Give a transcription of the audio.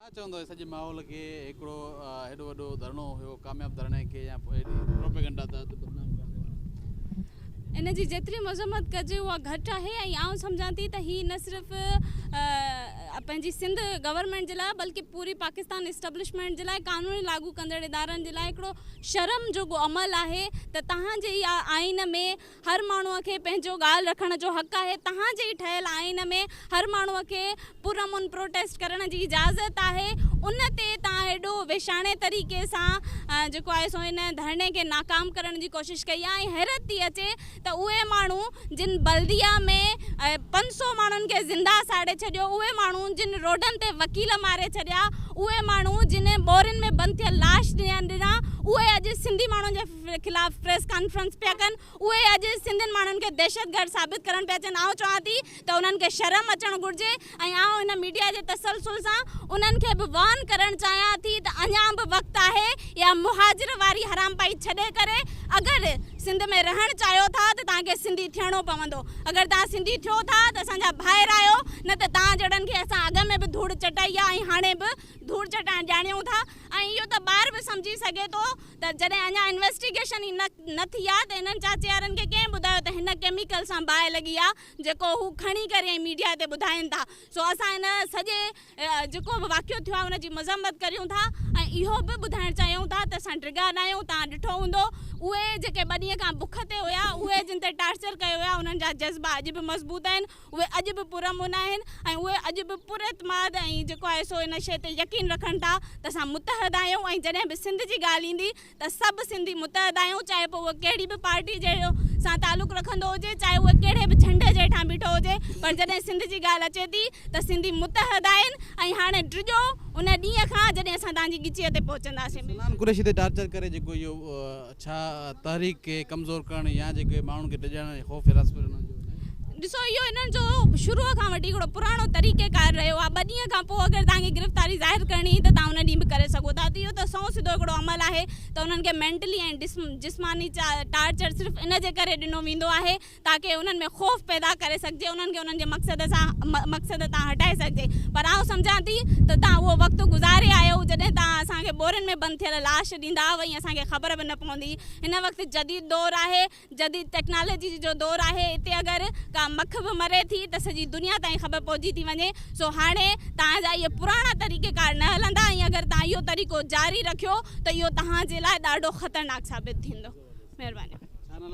ڇا چوندو هي سڄي ماحول کي هڪڙو هيڏو وڏو ڌرڻو هيو ڪامياب ڌرڻي کي يا هيڏي پروپيگنڊا تحت بدنام ڪرڻ جو ان جي جيتري مذمت ڪجي اها گهٽ آهي ۽ آئون سمجهان ٿي ته هي نه صرف پنهنجي سنڌ گورنمينٽ جي لاء بلڪه پوري پاڪستان اسٽبلشمينٽ جي لاء قانون لاڳو ڪندڙ ادارن جي لاء هڪڙو شرم جوڳو عمل آهي ته توهان جي آئين ۾ هر ماڻهو کي پنهنجو ڳالهه رکڻ جو حق آهي، تهان جي ٺهيل آئين ۾ هر ماڻهو کي پرامن پروٽيسٽ ڪرڻ جي اجازت آهي، ان تي توهان ايڏو ويشاڻي طريقي سان جيڪو آهي سو ان ڌرڻي کي ناڪام ڪرڻ جي ڪوشش ڪئي آهي ۽ حيرت ٿي اچي ته اهي ماڻهو جن بلديه ۾ پنج سؤ ماڻهن کي زنده ساڙي ڇڏيو، اهي ماڻهو جن روڊن تي وڪيل ماري ڇڏيا، اهي ماڻهو جن ٻورين ۾ بند ٿيل لاش ڏنا، اهي اڄ سنڌي ماڻهن جي. خلاف پريس ڪانفرنس پيا ڪن اهي اڄ سنڌين ماڻهن کي دهشتگرد ثابت ڪرڻ پيا چاهن آئون چوان ٿي ته انهن کي شرم اچڻ گهرجي ۽ آئون هن ميڊيا جي تسلسل سان انهن کي به وارن ڪرڻ چاهيان ٿي ته اڃان به وقت آهي يا مهاجر واري حرامپائي ڇڏي ڪري اگر سنڌ ۾ رهڻ چاهيو ٿا ته توهان کي سنڌي ٿيڻو پوندو اگر توهان سنڌي ٿيو ٿا ته اسان جا ڀائر آهيو نه ته توهان جهڙن کي اسان اڳ ۾ به ڌوڙ چٽائي آهي ۽ هاڻي به ڌوڙ چٽائڻ ڄاڻيون ٿا. ۽ اهو ته ٻار به سمجهي سگهي ٿو ته جڏهن اڃا انويسٽيگيشن ئي نه ٿي آهي ته انهن چاچيارن کي ڪنهن ٻڌايو ته هن ڪيميڪل سان باهه لڳي آهي جيڪو هو کڻي ڪري ۽ ميڊيا تي ٻڌائين ٿا سو اسان ان سڄي جيڪو به واقعو ٿيو آهي ان جي مذمت ڪريون ٿا ۽ اهو به ٻڌائڻ چاهيون ٿا ته اسان ڊگها ناهيون تهان ڏٺو هوندو اهي جيڪي ٻه ڏينهن کان بک تي هيا اهي جن تي ٽارچر ڪيو ويو آهي انهن جا جذبا اڄ به مضبوط آهن اهي اڄ به پرامن آهن ۽ اهي اڄ به پر اعتماد ۽ جيڪو آهي سو ان شيء تي يقين رکن ٿا ته اسان متحد آهيون ۽ جڏهن به سنڌ جي ڳالهه ايندي ته سڀ سنڌي متحد آهيون چاهي پوء اهو ڪهڙي به پارٽي جي سان تعلق رکندو هجي چاهي اهو ڪهڙي به جهنڊي جي هيٺان بيٺو هجي پر جڏهن سنڌ جي ڳالهه اچي ٿي ته سنڌي متحد آهن ۽ هاڻي ڊڄو ان ڏينهن کان جڏهن اسان توهان جي ڳچيء تي پهچنداسين. سلمان قريشي تي ٽارچر ڪري جيڪو اهو ڇا تحريڪ کي ڪمزور ڪرڻ يا جيڪي ماڻهن کي ڊڄائڻ ۽ خوف حراس ۾ رکڻ جو هن جي. ڏسو اهو انهن جو شروع کان وٺي هڪڙو پراڻو طريقه ڪار رهيو آهي ٻه ڏينهن کان پوء اگر توهان کي گرفتاري ظاهر ڪرڻي ته توهان ان ڏينهن به ڪري سگهو ٿا اهو ته سنئون سڌو هڪڙو عمل آهي ته انهن کي مينٽلي ۽ جسماني ٽارچر صرف ان جي ڪري ڏنو ويندو آهي تاڪه انهن ۾ خوف پيدا ڪري سگهجي، انهن کي انهن جي مقصد سان مقصد تان هٽائي سگهجي، پر آئون سمجهان ٿي ته توهان اهو وقت گذاري آيو جڏهن توهان اسان کي ٻورين ۾ بند ٿيل لاش ڏيندا هئا ۽ اسان کي خبر به نه پوندي هئي. هن وقت جديد دور آهي، جديد ٽيڪنالاجي جو دور آهي، اتي اگر ڪا مک به مري ٿي ته سڄي دنيا تائين خبر پهچي ٿي وڃي، سو هاڻي توهان جا اهي پراڻا طريقيڪار نه هلندا ۽ اگر توهان اهو طريقو جاري رکيو ته اهو توهان جي لاء ڏاڍو خطرناڪ ثابت ٿيندو. مهرباني.